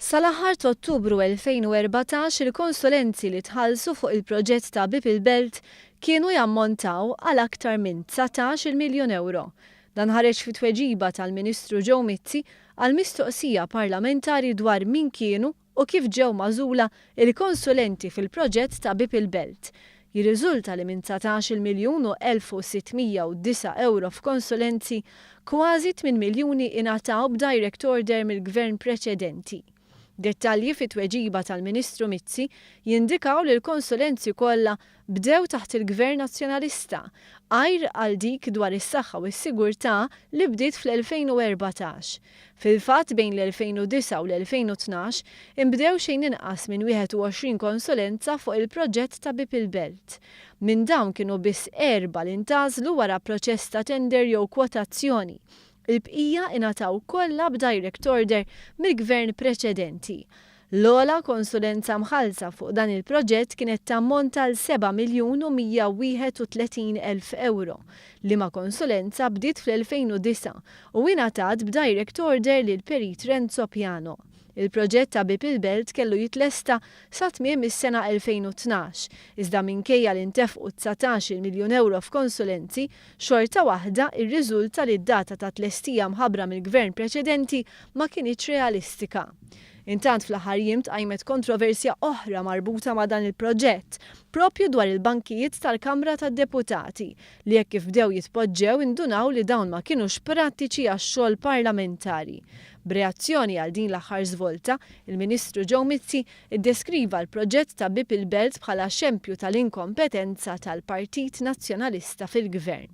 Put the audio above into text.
Sal-aħħar t'Ottubru 2014 il-konsulenzi li tħallsu fuq il-proġett ta' Bieb il-Belt kienu jammontaw għal aktar minn dsatax-il miljun ewro. Dan ħareġ fi tweġiba tal-Ministru Joe Mizzi għal mistoqsija parlamentari dwar min kienu u kif ġew magħżula l-konsulenti fil-proġett ta' Bieb il-Belt. Jirriżulta li minn dsatax-il miljun u elf u sitt mija u disa' ewro f'konsulenzi, kważi tmien miljuni ingħataw b'direct order mill-Gvern preċedenti. Dettalji fit-tweġiba tal-Ministru Mizzi jindikaw li l-konsulenzi kollha bdew taħt il-Gvern Nazzjonalista, għajr għal dik dwar is-saħħa u s-sigurtà li bdiet fl-2014, Fil-fatt, bejn l-2009 u l-2012, inbdew xejn inqas minn 21 konsulenza fuq il-proġett ta' Bieb il-Belt. Minn dawn kienu biss erbgħa li ntgħażlu wara proċess ta' tender jew kwotazzjoni. Il-bqija ingħataw kollha b'direct order mill-Gvern preċedenti. L-ogħla konsulenza mħallsa fuq dan il-proġett kienet tammonta għal seba' miljun u 131 elf ewro, liema konsulenza bdiet fl-2009 u ingħatat b'direct order lill-Perit Renzo Piano. Il-proġett ta' Bieb il-Belt kellu jitlesta sa tmiem is-sena 2012, iżda minkejja li ntefqu dsatax-il miljun ewro f'konsulenzi, xorta waħda irriżulta li d-data ta' tlestija mħabbra mill-Gvern preċedenti ma kinitx realistika. Intant fl-aħħar jiem tqajmet kontroversja oħra marbuta ma' dan il-proġett, proprju dwar il-bankijiet tal-Kamra tad-Deputati, li hekk kif bdew jitpoġġew indunaw li dawn ma kinux prattiċi għax-xogħol parlamentari. B'reazzjoni għal din l-aħħar żvolta, il-Ministru Joe Mizzi ddeskriva l-proġett ta' Bieb il-Belt bħala xempju tal-inkompetenza tal-Partit Nazzjonalista fil-Gvern.